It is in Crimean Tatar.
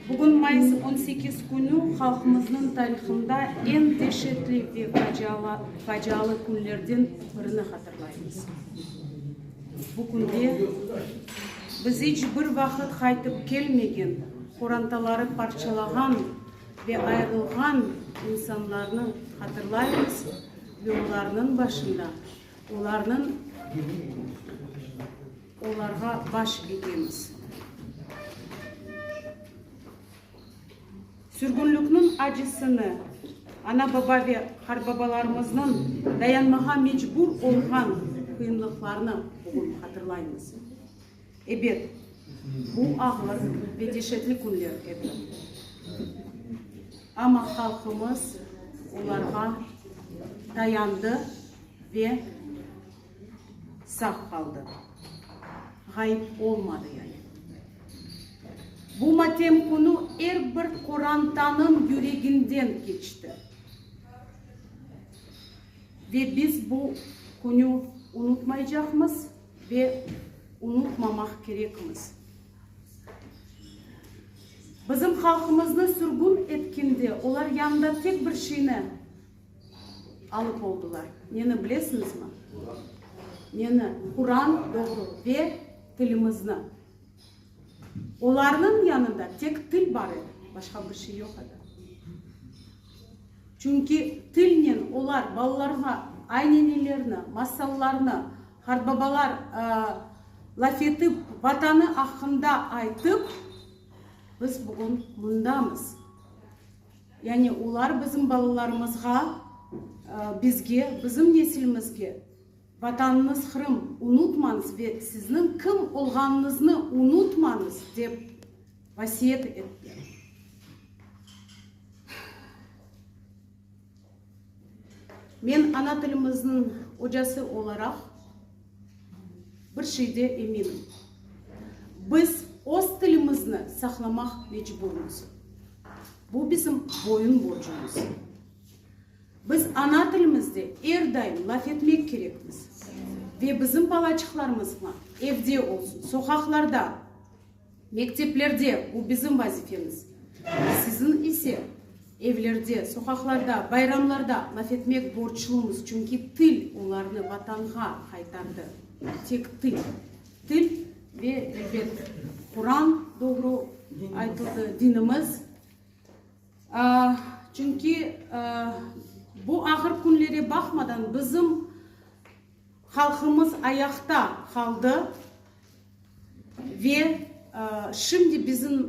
Bugün mayıs on sekiz künü halqımıznıñ tarihında eñ deşetli ve facialı künlerden birini hatırlaymız. Bu künde biz iç bir vaqıt qaytıp kelmegen, qorantaları parçalağan ve ayırılğan insanlarnı hatırlaymız ve olarnıñ başında olarnıñ Olarğa baş egemiz. Sürgünlikniñ acısını, ana-baba ve qarbabalarımıznıñ dayanmağa mecbur olğan qıyınlıqlarını bugün hatırlaymız. Ebet, bu ağır ve deşetli künler edi. Amma halqımız olarğa dayandı ve. Sağ qaldı, ğayıp olmadı yani. Bu matem künü er bir qorantanıñ yüreginden keçti. Ve biz bu künü unutmaycaqmız ve unutmamaq kerekmiz. Bizim halqımıznı sürgün etkende olar yanında tek bir şeyni. Alıp oldılar. Neni bilesiñizmi? Neni? Quran, doğru, ve tilimizni. Olarnıñ yanında tek til bar edi, başqa bir şey yoq edi. Çünki tilnen olar balalarğa aynenelerini, masallarnı, qartbabalar laf etip, Vatanı aqqında aytıp, biz bugün mındamız. Yani olar bizim balalarımızğa, bizge, bizim nesilimizge, Vatanıñız Qırım, unutmañız ve sizniñ kim olğanıñıznı unutmañız, dep vasiyet etti. Men ana tilimizniñ ocası olaraq, Bir şeyde eminim, biz öz tilimizni saqlamaq mecburmız. Bu bizim boyun borcumız. Biz ana tilimizde er daim laf etmek kerekmiz ve bizim balaçıqlarımızğa evde olsun, soqaqlarda, Mekteplerde, bu bizim vazifemiz. Siziñ ise, evlerde, soqaqlarda, bayramlarda laf etmek borçlumız, çünki til olarnı Vatanğa qaytardı. Tek til. Til ve elbet Quran, doğru aytıldı, dinimiz. Çünki bu ağır künlere baqmadan bizim. Halqımız ayaqta qaldı ve şimdi bizim.